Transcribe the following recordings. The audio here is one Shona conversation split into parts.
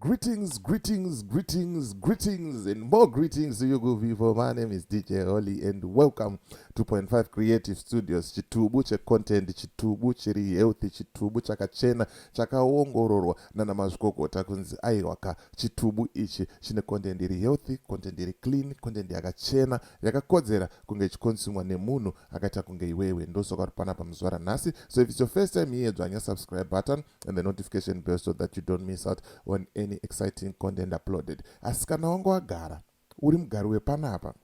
Greetings, greetings, greetings, greetings, and more greetings to you good people. My name is DJ Holly, and welcome to Point Five Creative Studios. Chitubu checontent, chitubu chiri healthy, chitubu chakachena, chakaongororwa nana mazvikokota kunzi aiwaka chitubu ichi chine content iri healthy, content iri clean, content yakachena, yakakodzera kunge ichikonsumwa nemunhu akaita kunge iwewe ndosoka uri panapa muzvara nhasi so if it's your first time here dzvanya subscribe button and the notification bell so that you don't miss out on any exciting content uploaded asi kana wanga wagara uri mugari wepanapa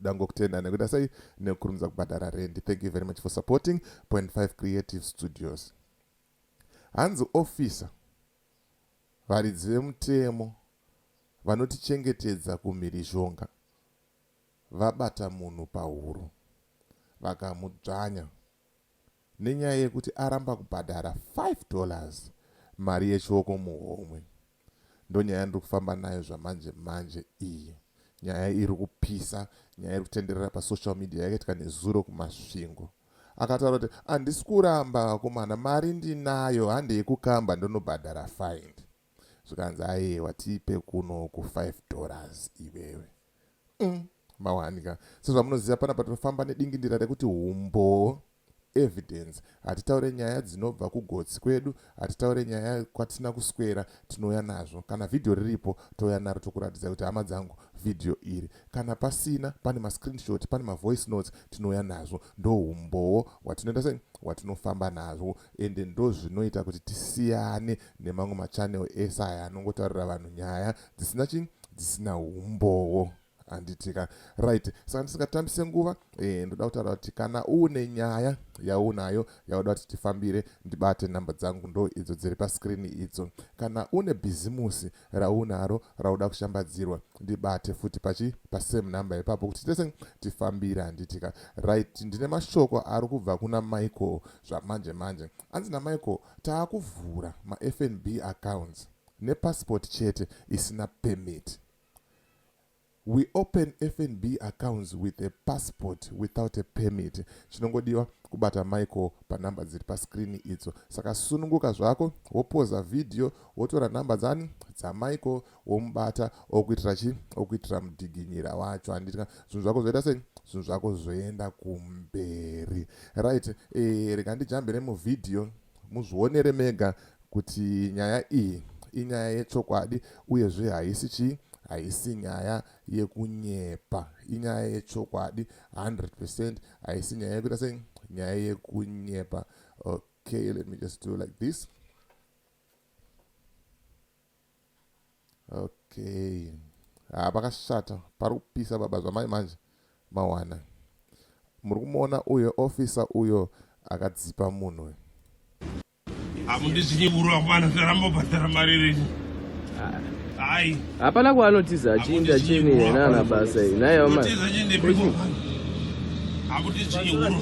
dangokutenda nekuita sei nekukurumidza kubhadhara rendi thank you very much for supporting point 5 creative studios hanzi officer varidzi vemutemo vanotichengetedza kumhirizhonga vabata munhu pahuro vakamudzvanya nenyaya yekuti aramba kubhadhara five dollars mari yechioko muhomwe. Ndonyaya yandiri kufamba nayo zvamanje manje iyi. Nyaya iri kupisa, nyaya iri kutenderera pasocial media yakaitika nezuro kuMasvingo. Akataura kuti handisi kuramba vakomana, mari ndinayo, handei kukamba ndonobhadhara fine. zvikanzi ayewa tipe kuno ku 5 dollars iwewe mm, mawanika sezvamunoziva pana patofamba nedingindira rekuti umboo evidence hatitaure nyaya dzinobva kugotsi kwedu hatitaure nyaya kwatina kuswera tinouya nazvo kana vhidhiyo riripo touya naro tokuratidza kuti hama dzangu vhidhiyo iri kana pasina pane mascreenshot pane mavoice notes tinouya nazvo ndoumbowo hwatinoita sei hwatinofamba nazvo ende ndozvinoita kuti tisiyane nemamwe machannel ese aya anongotaurira vanhu nyaya dzisina chi dzisina umbowo handitika right saka ndisingatambise nguva e, ndoda kutaura kuti kana uune nyaya yaunayo yauda kuti tifambire ndibate nhamba dzangu ndo idzo dziri paskrini idzo kana une bhizimusi raunaro rauda kushambadzirwa ndibate futi pachi pasame number ipapo kuti tese tifambire handitika right ndine mashoko ari kubva kuna michael zvamanje manje anzi namichael Taakuvhura maFNB accounts nepassport chete isina permit. We open FNB accounts with a passport without a permit. Chinongodiwa kubata Michael panumber dziri pascreen idzo. Saka sununguka zvako, wopoza video, wotora number dzani? DzaMichael, womubata okuitira chi okuitira mudhiginyira wacho handiti ka zvinhu zvako zvoita sei zvinhu zvako zvoenda kumberi right e, rega ndijambe nemuvhidhiyo muzvionere mega kuti nyaya iyi inyaya yechokwadi uyezve haisi chii haisi nyaya yekunyepa inyaya yechokwadi 100 percent haisi nyaya yekuita sei nyaya yekunyepa okay let me just do like this okay haa ah, pakashata pari kupisa baba zvamai manje mawana muri kumuona uyo ofisa uyo akadzipa munhu hamundizvinyevurwa mwana zvarambo bhadhara mari renyu hai hapana kwaanotiza achiinda chini yena ana basa iyi naye omatiza chindepiko hamundizvinyevurwa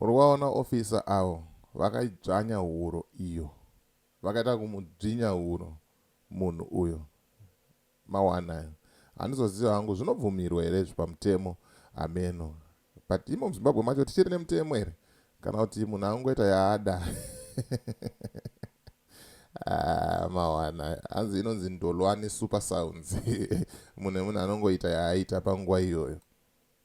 muri waona ofisa avo vakaidzvanya huro iyo vakaita kumudzvinya huro munhu uyo Mawana ayo. Handizoziva hangu zvinobvumirwa here izvi pamutemo hameno. But imo muZimbabwe macho tichiri nemutemo here kana kuti munhu angoita yaada. Ah, mawana hanzi inonzi ndolwani super sounds munhu emunhu anongoita yaaita panguva iyoyo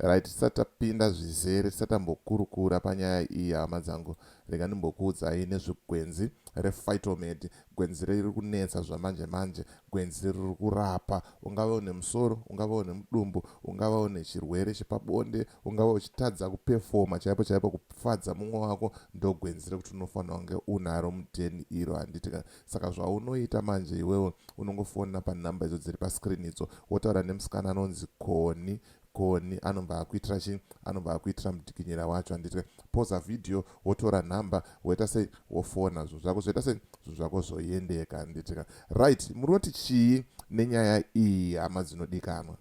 Right tisati tapinda zvizere tisati tambokurukura panyaya iyi hama dzangu rega ndimbokuudzai nezvegwenzi rephytomed gwenzi riri kunetsa zvamanje manje gwenzi riri kurapa ungava une musoro ungava une mudumbu ungava une chirwere chepabonde ungava uchitadza kupefoma chaipo chaipo kufadza mumwe wako ndogwenzi rekuti unofanira kunge unaro mudheni iro handiti Saka zvaunoita manje iwewe unongofona panumber idzo dziri pascreen idzo wotaura nemusikana anonzi Koni Koni anobva akuitira chii anobva akuitira mudikinyira wacho anditwe poza video wotora number woita sei wofona zvinhu zvako zvoita sei zvinhu zvako zvoendeka anditika right munoti chii nenyaya iyi hama dzinodikanwa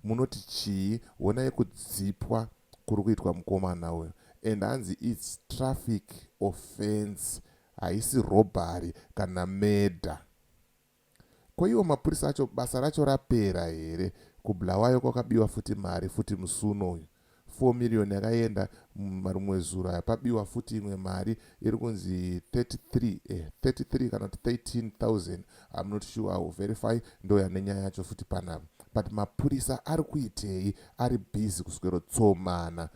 munoti chii honai kudzipwa kuri kuitwa mukomana uyo and hanzi its traffic offense Haisi robbery kana murder. Ko iwo mapurisa acho basa racho rapera here kuBulawayo kwakabiwa futi mari futi musi uno uyu four million yakaenda mumarumwezuro aya pabiwa futi imwe mari iri kunzi 33 eh, 33 kana kuti 13000 I'm not sure I will verify ndo yane nyaya yacho futi panapa but mapurisa ari kuitei ari busy kuswero tsomana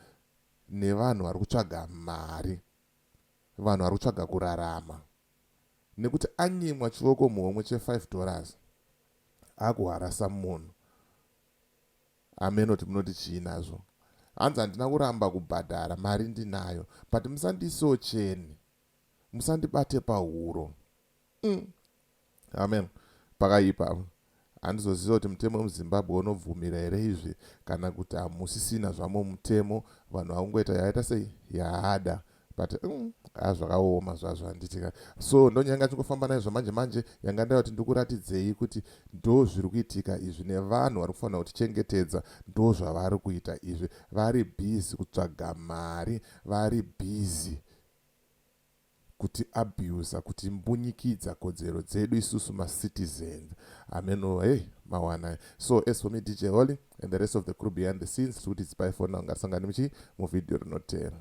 nevanhu vari kutsvaga mari vanhu vari kutsvaga kurarama nekuti anyimwa chivoko muhomwe che 5 dollars akuharasa munhu amenoti munoti chii nazvo hanzi handina kuramba kubhadhara mari ndinayo but musandiisewo cheni musandibate pahuro mm. amen pakaipa apo handizoziva kuti mutemo wemuzimbabwe unobvumira here izvi kana kuti hamusisina zvamo mutemo vanhu vakungoita yaaita sei yaada but mm, a zvakaoma zvazvo handitika so ndonyanga chingofamba naye zvamanje manje yanga ndava kuti ndikuratidzei kuti ndo zviri kuitika izvi nevanhu vari kufanira kutichengetedza ndo zvavari kuita izvi vari bhizi kutsvaga mari vari bhizi kuti abuser kuti mbunyikidza kodzero dzedu isusu ma citizens hameno hey mawana so as for me DJ Holly and the rest of the crew behind the scenes tikuti zipai phone now ngatisangane muchi mu video rinotera